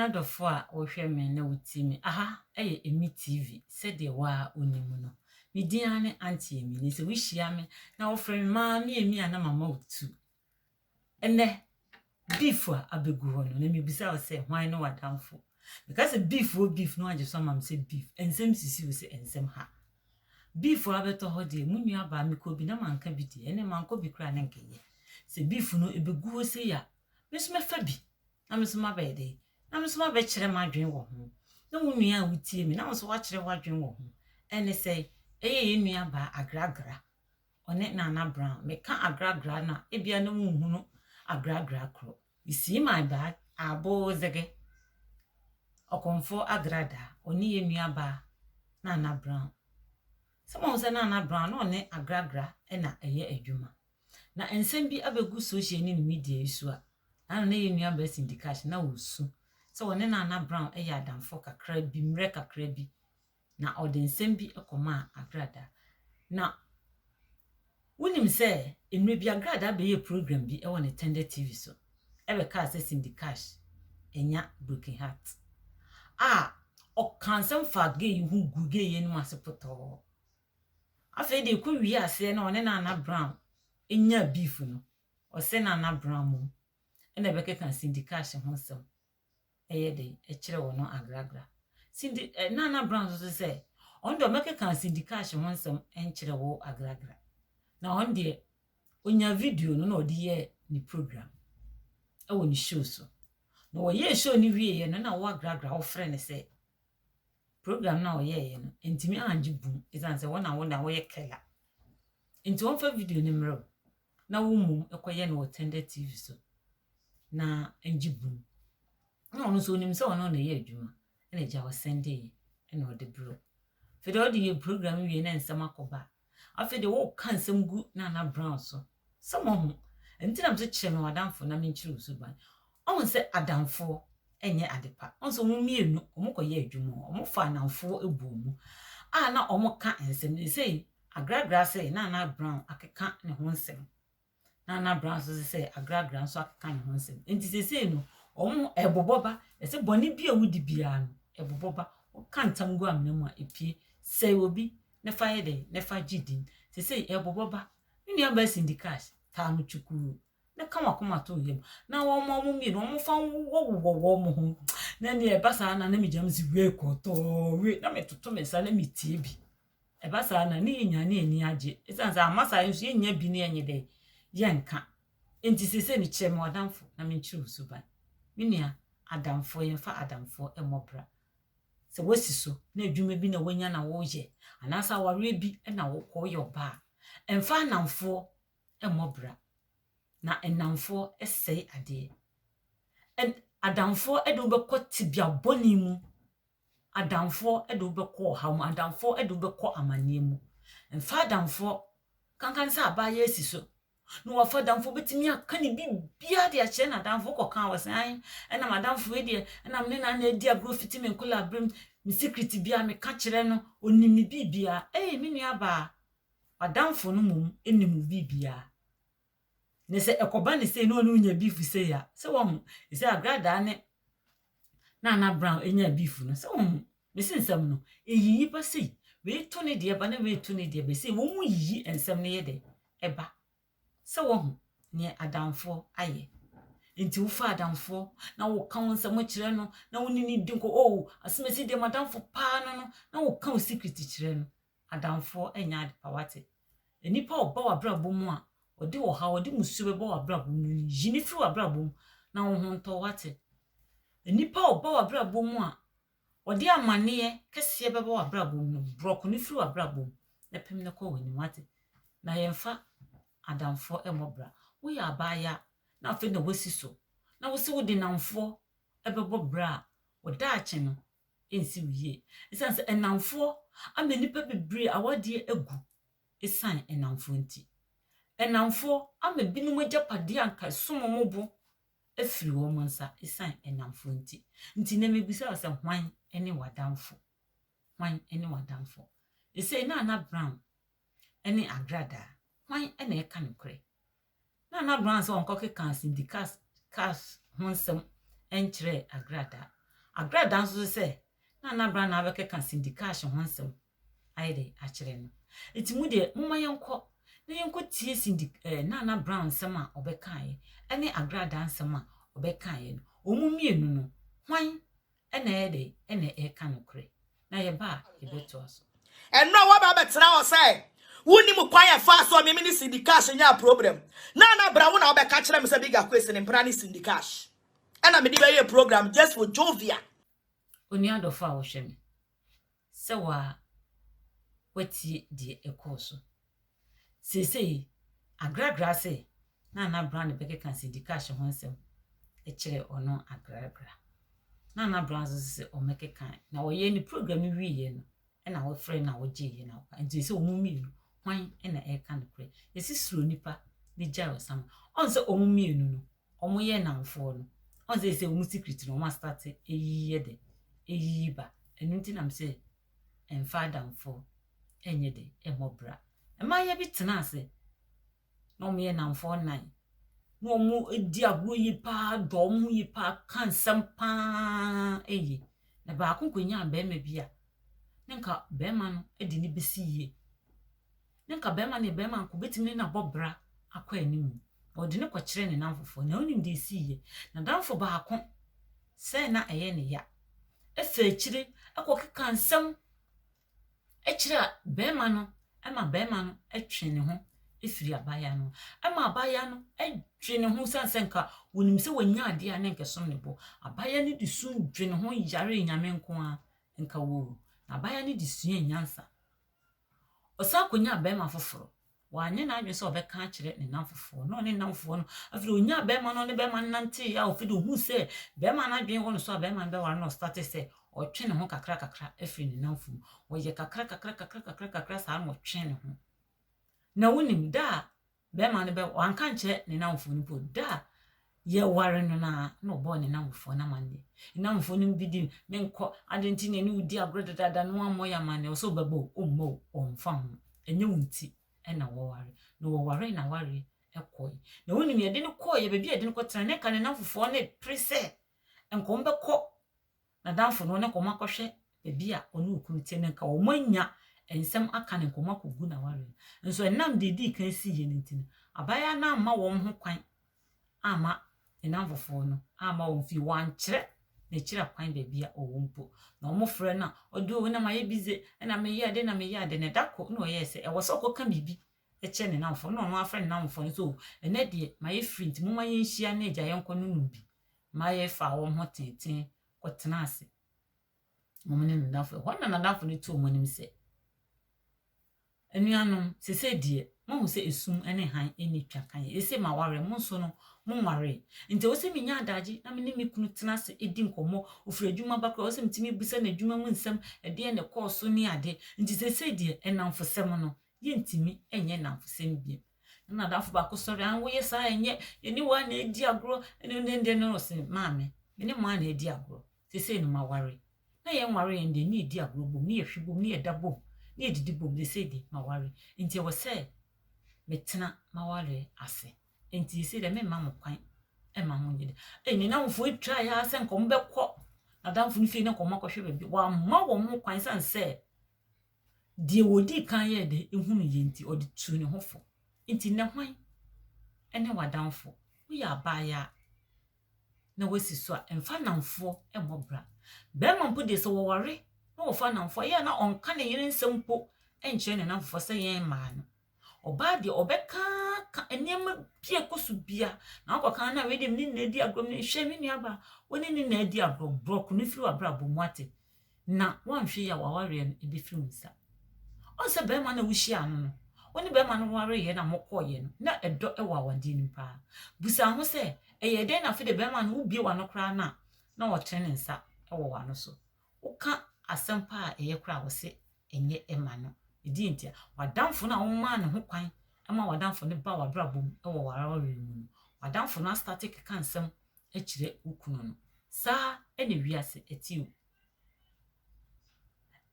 adɔfo a wɔhwɛ me na wotie me aha ɛyɛ emi tv sɛdeɛ waa onim no me din ara ne auntie emi ne sɛ wohyia me na wɔfrɛ me maame emi a na mama wo tu Ɛnnɛ, beef a abegu hɔ no, na mibisa wo sɛ, hwan ne w'adamfo? Meka sɛ beef o beef na woagye so ama me sɛ beef. Nsɛm sisi wo sɛ nsɛm ha. Beef a abɛtɔ hɔ deɛ, mo nuabaa mekɔɔ bi na manka bi deɛ, ɛnnɛ mankɔ bi koraa ne nkɛyɛ. Sɛ beef no ɛbɛgu hɔ sei a, me nso mɛfa bi na me nso mabɛyɛ dɛn? Na me nso mabɛkyerɛ m'adwene wɔ ho. Na wo nua a wotie me, na wo nso woakyerɛ w'adwene wɔ ho. Ɛne sɛ, ɛyɛ yɛn nuabaa Agragra. Ɔne Nana Brown. Meka agragra no a, ebia na wunhunu agragra koro. You see my bag? Aboozege. Ɔkɔmfoɔ agradaa. Ɔne yɛn nuabaa Nana Brown. Sɛ moahu sɛ Nana Brown na ɔne agragra na ɛyɛ adwuma. Na nsɛm bi abɛgu social ne ne media yi so a, naano na yɛn nuabaa Cindy Cash na ɔresu sɛ ɔne Nana Brown yɛ adamfo kakra bi, mmerɛ kakra bi. na ɔde nsɛm bi kɔmaa Agrada. Na wonim sɛ mmerɛ bi Agrada bɛyɛɛ program bi wɔ ne Tender TV so bɛkaa sɛ Cindy Cash anya broken heart a ɔkaa nsɛm faa gay yi ho guu gay yi anim ase potɔɔ. Afei deɛ ɛkɔ wie aseɛ na ɔne Nana Brown nyaa beef no, ɔse Nana Brown mmom na ɛbɛkeka Cindy Cash ho nsɛm yɛ den kyerɛ wɔn no agragra. Cindy, eh, na na Brown nso sɛ, ɔno deɛ ɔmɛkeka Cindy Cash ho nsɛm nkyerɛ wo agragra. Na ɔno deɛ, ɔnya video no na ɔde yɛ ne program wɔ ne show so. Na wɔyɛɛ show no wieeɛ no na wo agragra wofrɛ no sɛ, program no a ɔyɛeɛ no, ntumi angye bum, ɛsiane sɛ wɔn na wɔn na wɔyɛ kɛla. Nti wɔmfa video no mmerɛ o. na wo mum kɔ yɛ no wɔ tender TV so na ngye bum na ɔno nso onim sɛ ɔno na ɛyɛ adwuma na agya wɔ sɛnde yɛ na ɔde bro afei de ɔde yɛ program wie na nsɛm akɔba afei de woka nsɛm gu na na brown so sɛ mo ho ɛnti na mso kyerɛ me wadamfo na menkyerɛ wo suban Ɔhu sɛ adamfoɔ nyɛ ade pa. Ɔhu sɛ wɔn mmienu wɔkɔyɛɛ adwuma hɔ, wɔfaa nnamfoɔ buu mu a na wɔka nsɛm no. Seesei Agragra ase, Nana Brown akeka ne ho nsɛm. Nana Brown nso se sɛ Agragra nso akeka ne ho nsɛm. Enti seesei no, wɔn ɛbobɔ ba. Ɛsɛ bɔne bi a wodi biara no, ɛbobɔ ba. Woka ntam gu amena mu a, epie. Sɛe obi na fa yɛ dɛn? Na fa gye din. Seesei ɛbobɔ ba. Me nuabaa Cindy Cash taa no kyukuu. na ka w'akoma to yam na wɔma wɔn mmienu wɔn fa nwowɔ wɔn ho na nea ɛba saa na na megya me si wei kɔtɔɔ wei na metoto me nsa na metie bi ɛba saa na ne yɛnya ne ani agye ɛsiane sɛ ama saa nso yɛnya bi ne ɛnyɛ dɛ yɛnka nti sɛ sɛ mekyerɛ me wadamfo na menkyerɛ wo suban me nua adamfoɔ yɛmfa adamfoɔ ɛmmɔ bra sɛ woasi so na adwuma bi na wonya na woyɛ anaasɛ awareɛ bi na wokɔ yɛ ɔbaa ɛmfa anamfoɔ mmɔ bra, na nnamfoɔ sɛe adeɛ. Ɛn, adamfoɔ de wo bɛkɔ tebea bɔne mu, adamfoɔ de wo bɛkɔ ɔhaw mu, adamfoɔ de wo bɛkɔ amanneɛ mu. Mfa adamfoɔ, kanka ne sɛ abaayɛ asi so na wafa adamfoɔ, wobɛtumi aka ne biribiara de akyerɛ n'adamfoɔ kɔka a, wɔsɛ ae, ɛna m'adamfoɔ yi deɛ, ɛna me ne na na adi agorɔ fiti me nkolaberem, me secret biara meka kyerɛ no, ɔnim me biribiara. Ei, me nuabaa, adamfo no mmom nnim wo biribiara. Na sɛ ɛkɔba no sei na ɔne wo nya beef sei a, sɛ wahu. Ɛsɛ Agradaa ne Nana Brown nyaa beef no, sɛ wahu. Mese nsɛm no, ɛyiyi ba sei, wei to ne deɛ ba na wei to ne deɛ ba sei, wɔn yiyi nsɛm no yɛ dɛ ɛba. Sɛ wahu neɛ adamfoɔ ayɛ. Nti wofa adamfoɔ na woka wo nsɛm kyerɛ no na wo ne no di nkɔ, oh, asɛm asi deɛ m'adamfo paa no no, na woka wo secret kyerɛ no. adamfoɔ nyɛ ade pa. Wate? Nnipa a wɔba w'abrabɔ mu a wɔde ɔhaw, wɔde mmusuo bɛba w'abrabɔ mu no, yi no firi w'abrabɔ mu na wo ho ntɔ. Wate? Nnipa a wɔba w'abrabɔ mu a wɔde amanneɛ kɛseɛ bɛba w'abrabɔ mu no, borɔko no firi w'abrabɔ mu na pem no kɔ w'anim. Wate? Na yɛmfa adamfoɔ mmɔ bra. Woyɛ abaayaa na afei na woasi so, na wo se wode nnamfoɔ bɛbɔ bra a, wo daakye no, nsiw yie. Esiane sɛ nnamfoɔ ama nnipa bebree awadeɛ agu esiane nnamfoɔ nti. Nnamfoɔ ama binom agyapadeɛ a anka ɛsom wɔn bo afiri wɔn nsa esiane nnamfoɔ nti. Nti nnɛ mebisa wo sɛ hwan ne w'adamfo? Hwan ne w'adamfo? Ɛsei Nana Brown ne Agradaa, hwan na ɛka nokorɛ? na na Brown sɛ ɔnkɔkeka Syndicat Cash ho nsɛm nkyerɛ Agradaa. Agradaa nso so sɛ na na Brown na abɛkeka Syndicash ho nsɛm ayɛ dɛ akyerɛ no. Enti mo deɛ momma yɛnkɔ na yɛnkɔtie Cindy eh, na na Brown nsɛm a ɔbɛkaeɛ ne Agradaa nsɛm a ɔbɛkaeɛ no. Wɔn mmienu no, hwan Ɛna ɛyɛ dɛ, ɛna ɛka nokorɛ, na yɛba a, yɛbɛtoa so. Ɛno a woaba abɛtena hɔ sɛ wonim kwan a ɛfaa so a meme ne Cindy Cash nyaa program no a na bra wo na wobɛka akyerɛ me sɛ Big Akwesi ne mpena ne Cindy Cash ɛna mede bɛyɛɛ program just for jovial. Onua dɔfo a wohwɛ me. sɛ wo ara woatie deɛ ɛkɔɔ so. Seesei, Agragra se na na Brown bɛkeka Cindy Cash ho nsɛm kyerɛ ɔno Agragra. Na na Brown nso sɛ ɔmmɛkeka. Na ɔyɛɛ ne program no wieeɛ no, ɛna wɔfrɛ na wɔgyeeɛ na wɔkɔ. Nti sɛ wɔn mmienu, hwan na ɛreka nokorɛ? Yɛsi suro nipa ne gyae ɔsama. Ɔn sɛ wɔn mmienu no, ɔmo yɛ nnamfoɔ no ɔn sɛ sɛ ɔmo secret no ɔmo astate eyi yɛ dɛ eyi yi ba ɛno nti nam sɛ ɛnfa adamfoɔ ɛnyɛ dɛ ɛmɔ bra mmaayewa bi tena ase na ɔmo yɛ nnamfoɔ nnan na ɔmo di agorɔ yie paa dɔ ɔmo ho yie paa ka nsɛm paa ɛyɛ na baako kɔ nyaa bɛɛma bi a ne nka bɛɛma no ɛde ne besi yie. Na nka barima ne barima nko betumi ne no abɔ bra akɔ anim. Na ɔde no kɔkyerɛɛ ne nnamfofoɔ. Na wonim deɛ ɛsiiɛ? N'adamfo baako sɛɛ na ɛyɛ ne ya. Ɛfaa akyire kɔkekaa nsɛm kyerɛɛ barima no ma barima no twee ne ho firi abaayewa no ho. Ɛma abaayewa no dwe ne ho sane sɛ nka wɔnim sɛ wanya adeɛ a ne nka ɛsom ne bo. Abaayewa no de su dwe ne ho yaree Nyame nko ara nka woo. Na abaayewa no de suaa nyansa. Ɔsan konyaa barima foforo. Wanyɛ n'adwene sɛ ɔbɛka akyerɛ ne nnamfofoɔ, na ɔne nnamfofoɔ no, afei ɔnyaa barima no, ɔne barima no nanteeɛ a ɔfei de ɔhuu sɛ barima no adwene wɔ ne so a barima no bɛware na ɔstate sɛ ɔtwe ne ho kakra kakra afiri ne nnamfo mu. Ɔyɛ kakra kakra kakra kakra kakra saa na ɔtwe ne ho. Na wonim da a Bɛrima no bɛ wanka nkyerɛ ne namfoɔ no po da a yɛware no no ara na ɔbɔɔ ne namfoɔ no amanneɛ. Ne namfoɔ no bi di menkɔ ade nti na ɛne wo di agorɔ dadaada na wammɔ yɛ amanneɛ ɔsɛ ɔbɛbɔ o ɔmmɔ o ɔmfa ho ɛnyɛ wo nti ɛna wɔware na wɔwaree na awareɛ ɛkɔe na wonim yɛde no kɔeɛ baabi a yɛde no kɔtena ne nka ne namfofoɔ no repere sɛ nka wɔbɛkɔ N'adamfo no, ɔne kɔm akɔhwɛ baabi a ɔne okunu te no, nka wɔanya nsɛm aka ne nkɔm akogu n'aware no. Nso ɛnam deɛ edii kan siiɛ no nti no, abaayewa no amma wɔn ho kwan amma ne nnamfofoɔ no amma wɔn fie, wɔankyerɛ n'akyiri akwan baabi a ɔwɔ mpo. Na wɔfrɛ no a, ɔde, O, na mayɛ bi dze, na meyɛ ade na meyɛ ade, na da koro na ɔyɛɛ sɛ ɛwɔ sɛ ɔkɔka biribi kyɛ ne nnamfoɔ no na ɔno afrɛ ne nnamfoɔ no sɛ o ɛnɛ deɛ mayɛ firi nti momma yɛnhyia ne agya yɛnkɔ no nom bi ma yɛfaa wɔn ho tenten kɔtenaa ase wɔn ne n'adamfo ɛhɔ na n'adamfo no tu wɔn anim sɛ anuanom sese deɛ mohu sɛ esum ne han ne twa kan ese ma ware mo nso no mo nware nti ɛwɔ sɛ menya adagye na me ne me kunu tena ase edi nkɔmmɔ ofiri adwuma ba koraa ɛwɔ sɛ metumi bisa n'adwuma mu nsɛm ɛdeɛ na ɛkɔɔ so ne ade nti sese deɛ ɛnamfo sɛm no yɛntumi nyɛ nnamfosɛm bio. Na m'adamfo baako sɔre, ah, woyɛ saa a, ɛnyɛ, yɛne wo ara na ɛredi agorɔ, ɛne wo dɛndɛn no, ɔse, maame, me ne mo ara na ɛredi agorɔ, seesei no maware, na yɛnware yɛn deɛ, ne yɛdi agorɔ bom, ne yɛhwe bom, ne yɛda bom, ne yɛdidi bom, seesei deɛ maware, nti ɛwɔ sɛ metena m'awareɛ ase, nti seesei deɛ memma mo kwan ɛma mo nyɛ dɛ ɛyɛ ne namfoɔ yi tra yɛ sɛ nkɔm bɛkɔ n'adamfo no fie ne nkɔm akɔhwɛ baabi wɔama wɔn kwan san sɛ Deɛ ɔdii kan yɛɛ dɛ hunuu yei nti, ɔde tuu ne ho fo. Nti nnɛ hwan ne w'adamfo? Woyɛ abaayaa na woasi so a, mfa nnamfoɔ mmɔ bra. Barima mpo deɛ sɛ ɔware na ɔfa nnamfoɔ a, ɛyɛ a na ɔnka ne yere nsɛm mpo nkyerɛ ne nnamfoɔ sɛ yɛn mmaa no. Ɔbaa deɛ ɔbɛkaaka nneɛma bi a ɛkɔ so biara na wakɔka no na wei deɛ me ne no na adi agorɔ, hwɛ me nuabaa wo ne no na adi agorɔ, borɔko no firi w'abrabɔ mu, woate. na woanhwɛ yie a w'awareɛ no ɛbɛfiri wo nsa. Ɔhu sɛ bɛrima no a wohyiaa no no, wo ne bɛrima no wareeɛ na mokɔeɛ no, na ɛdɔ wɔ awadeɛ no mu paa. Busa ho sɛ, ɛyɛɛ dɛn na afei de bɛrima no wobie w'ano koraa no a, na ɔtene ne nsa wɔ w'ano so. Woka asɛm pa a ɛyɛ koraa a, ɔse ɛnyɛ ɛma no. Ɛdeɛ nti a, w'adamfo no a womaa ne ho kwan ma w'adamfo no ba w'abrabɔ mu wɔ w'awareɛ mu no, w'adamfo no astate keka nsɛm kyerɛ wo kunu no. Saa na wiase te o.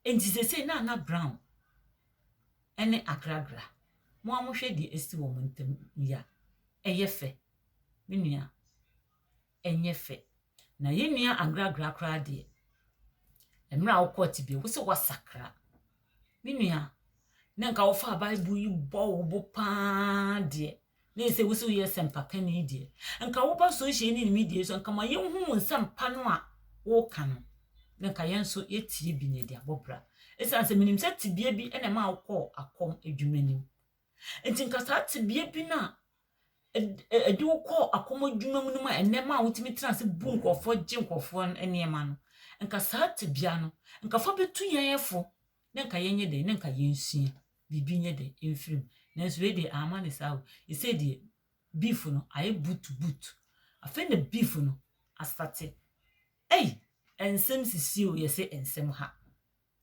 Enti seesei Nana Brown ne Agragra, mo ara mohwɛ deɛ asi wɔn ntam yi a, ɛyɛ fɛ? Me nua, ɛnyɛ fɛ. Na yɛn nua Agragra koraa deɛ, mmerɛ a wokɔɔ tebea wo sɛ woasakra. Me nua, na nka wofaa Bible yi bɔ wo bo paa deɛ, na ɛsɛ wo sɛ woyɛ asɛmpakani deɛ, nka woba social ne ne media so, nka ma yɛnhu wo nsɛmpa no a woka no, na nka yɛn nso yɛtie bi na yɛde abɔ bra. Ɛsiane sɛ menim sɛ tebea bi na ɛma wokɔɔ akɔm adwuma nim. Nti nka saa tebea bi no a ɛde wo kɔɔ akɔm adwuma mu no ma ɛnɛ ma wotumi tena ase bu nkurɔfoɔ gye nkurɔfoɔ nneɛma no, nka saa tebea no, nka fa bɛtu yɛn ɛfo na nka yɛnyɛ dɛn, na nka yɛnsua. biribi nyɛ dɛ mfir mu. Nanso wei deɛ, amma no saa o. Sesei deɛ, beef no ayɛ butubutu. Afei na beef no asate. Ei! Nsɛm sisi o, yɛse nsɛm ha.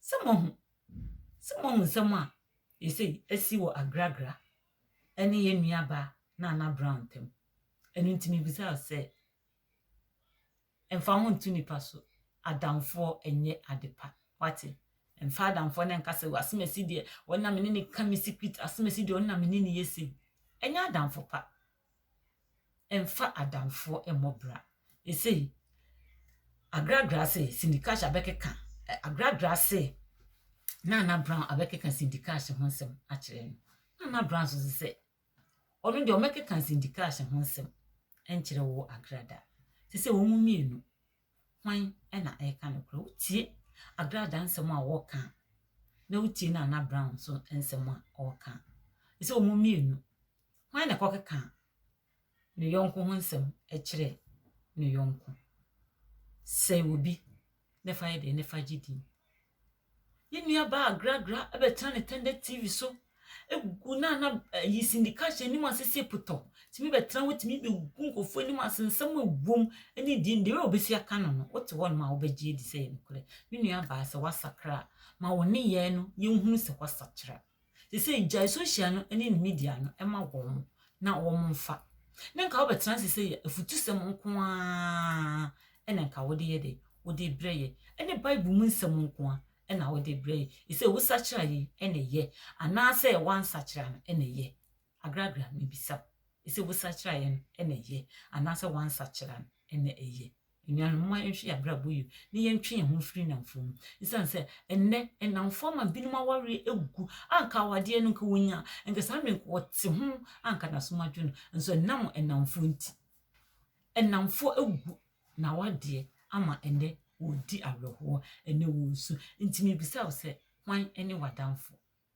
Sɛ moahu, sɛ moahu nsɛm a seesei asi wɔ Agragra ne yɛn nuabaa Nana Brown ntam. Ɛno nti mebisa wo sɛ. Mfa ho nto nnipa so, adamfoɔ nyɛ ade pa. Woate? Mfa adamfoɔ no nka sɛ, 'W'asomasi deɛ, ɔno na me ne no ka me secret, asomasi deɛ, ɔno na me ne no yɛ sei. Ɛnyɛ adamfo pa. Mfa adamfoɔ mmɔ bra. Ɛsei, Agragra se Cindy Cash abɛkeka, ɛ, Agragra se Nana Brown abɛkeka Cindy Cash ho nsɛm akyerɛ no. Nana Brown nso se sɛ, Ɔno deɛ ɔmmɛkeka Cindy Cash ho nsɛm nkyerɛ wo Agrada. Te sɛ wɔn mmienu, hwan na ɛreka nokorɛ? Wotie Agrada nsɛm a wɔreka a, na wotie Nana Brown nso nsɛm a ɔreka a. Te sɛ wɔn mmienu, hwan na ɛkɔkeka ne yɔnko ho nsɛm kyerɛ ne yɔnko? Sɛ obi ne fa yɛ dɛn ne fa gye din. Yɛn nua baa agragra bɛtena ne tɛndɛ TV so gu na na ayi sindika hyɛ anim ase sɛ potɔ tumi bɛtena hɔ tumi bɛgu nkurɔfoɔ anim ase nsɛm a ɛwom ne deɛ deɛ a wɔbɛsi aka no no wote hɔ nom a wobɛgye adi sɛ yɛ nokorɛ me nua baa sɛ wasakra ma wo nneyɛɛ no yɛnhunu sɛ wasakyera Sesei gyae social no ne media no ma wɔn na wɔmfa. Na nka wobɛtena ase sɛ yɛ afutusɛm nko ara na nka wode yɛ dɛ, wode brɛ yɛ, ɛne Bible mu nsɛm nko ara na wode brɛ yɛ. Ɛsɛ wosakyera yɛ na ɛyɛ anaasɛ wansakyera no na ɛyɛ? Agragra mebisa wo. Ɛsɛ wosakyera yɛ no na ɛyɛ anaasɛ wansakyera no? Ɛna eye. Anuanom, momma yɛnhwɛ yɛn abrabɔ yie na yɛntwe yɛn ho mfiri nnamfo mu. Esiane sɛ ɛnnɛ nnamfo ama binom awareɛ agu a anka awadeɛ no nka wɔnya a, anka saa mmerɛ yi nka wɔte ho a anka n'asom adwo no, nso ɛnam nnamfoɔ nti. Nnamfoɔ agu na awadeɛ ama ɛnnɛ wɔredi awerɛhoɔ, ɛnnɛ wɔresu. Nti mebisa wo sɛ, hwan ne w'adamfo?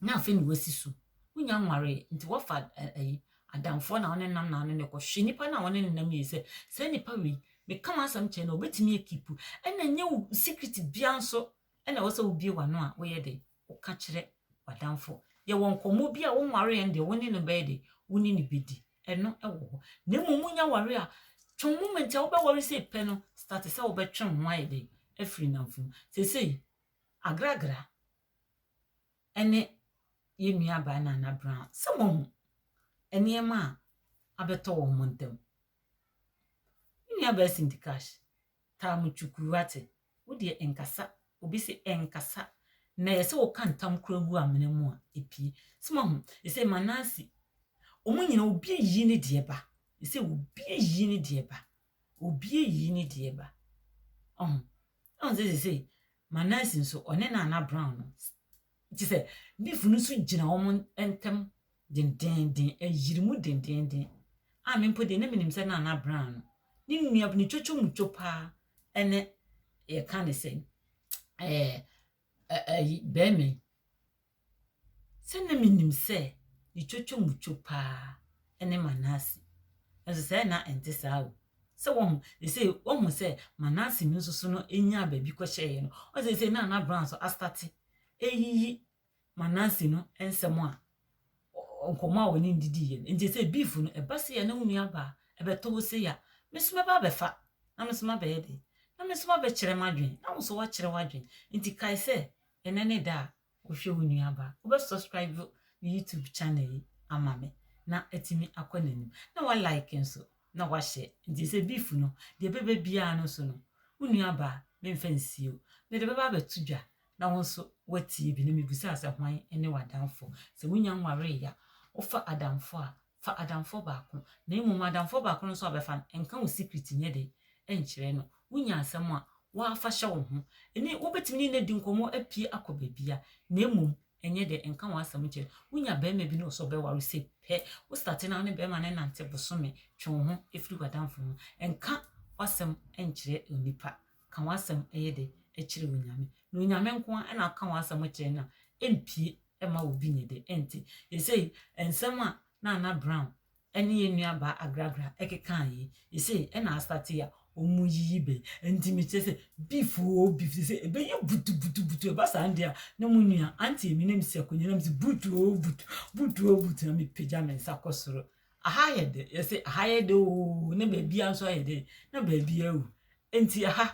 Na afei na wasi so. Wonya nwaree, nti wɔfa ayi, adamfoɔ na wɔne nam na wɔne no kɔ. Hwɛ nipa no a wɔne no nam yie sɛ, saa nipa wei, meka m'asɛm kyerɛ no a, ɔbɛtumi akipu. Ɛna nyɛ wo secret biara nso na ɛwɔ sɛ wobie w'ano a woyɛ dɛ, woka kyerɛ w'adamfo. Yɛwɔ nkɔmmɔ bi a wonwaree no deɛ, wo ne no bɛyɛ dɛ, wo ne no bɛdi. Ɛno wɔ hɔ. Na mmom monya ware a, twɛn moment a wobɛware sei pɛ no, start sɛ wobɛtwe wo ho ayɛ dɛ, afiri nnamfo mu. Seesei, agragra, ne yɛn nuabaa Nana Brown sɛ wɔahu nneɛma a abɛtɔ wɔ wɔn ntam. Me nuabaa Cindy Cash taa me kyukuu wate, wo deɛ nkasa, obi se ɛnkasa, na ɛyɛ sɛ woka ntam koraa gu amena mu a, ɛpue. Sɛ wɔahu, ɛsɛ ma Nancy, wɔn nyina obi ayi ne deɛ ba, ɛsɛ obi ayi ne deɛ ba, obi ayi ne deɛ ba. Ɔho, ɔho sɛ sɛ sɛ Ma Nancy nso, ɔne Nana Brown no te sɛ beef no so gyina wɔn ntam dendenden, ɛyere mu dendenden, a me mpo deɛ na menim sɛ Nana Brown no, ne nua, ne twotwomutwo paa ɛne yɛka ne sɛ ɛɛ ɛyi bɛrima yi. Sɛ na minim sɛ ne twotwomutwo paa ne Manase, nanso sɛɛ na ɛnte saa o. Sɛ wahu, seesei wahu sɛ Manase no nso so no nyaa baabi kɔhyɛeɛ no, ɔn seesei na na Brown nso astate ɛyiyi Manase no nsɛm a nkɔmmɔ a wɔne no didiiɛ no. Nti sɛ beef no ɛba sei a na wo nua baa ɛbɛtɔ wo sei a, me nso mɛba abɛfa na me nso mabɛyɛ dɛn? Na me nso mabɛkyerɛ m'adwene na wo nso woakyerɛ w'adwene. Nti kae sɛ Ɛnɛ ne da a wohwɛ wo nua baa. Wobɛ subscribe ne YouTube channel yi ama me na atumi akɔ n'anim. Na wa like nso na wa share. Nti sɛ beef no, deɛ ɛbɛba biara no so no, wo nua baa memfa nsie o. Mede bɛba abɛto dwa na wo nso watie bi na mebisa sɛ hwan ne w'adamfo. Sɛ wonya nwaree a, wofa adamfo a Fa adamfoɔ baako, na mmom adamfoɔ baako no nso a bɛfa no, nka wo secret nyɛ dɛ nkyerɛ no. Wonya asɛm a, woaa fa hyɛ wo ho. Ɛnne wobɛtumi ne no adi nkɔmmɔ apue akɔ baabiara, na mmom nyɛ dɛ nka w'asɛm nkyerɛ no. Wonya barima bi ne wo sɛ ɔbɛware wo sei pɛ, wo starte ne wo ne barima no nante bosome, twe wo ho firi w'adamfo ho. Nka w'asɛm nkyerɛ onipa. Ka w'asɛm yɛ dɛ kyerɛ Onyame. Na Onyame nko ara na woka w'asɛm kyerɛ no a, ɛmpue ɛmma obi nnye de nte. Seesei nsɛm a na Anna Brown ne yɛn nuabaa Agragra keka yi, seesei na asate a wɔreyiyi bɛ. Enti mekyerɛ sɛ beef oo beef, seesei ɛbɛyɛ butubutubutu, ɛba saa no deɛ a, na mo nua Auntie Emi na mesi akonnwa na mese boot oo boot, boot oo boot, na mepagya me nsa kɔ soro. Aha ayɛ dɛ, yɛse aha ayɛ dɛ oo, na baabiara nso ayɛ dɛ, na baabiara awu. Enti aha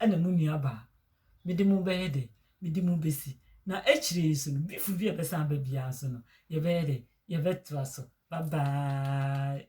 na mo nua baa. Mede mo bɛyɛ dɛ? Mede mo besi. Na akyire yi nso no, before bi a ɛbɛsan aba biara nso no, yɛbɛyɛ dɛ? Yɛbɛtra so. Bye bye.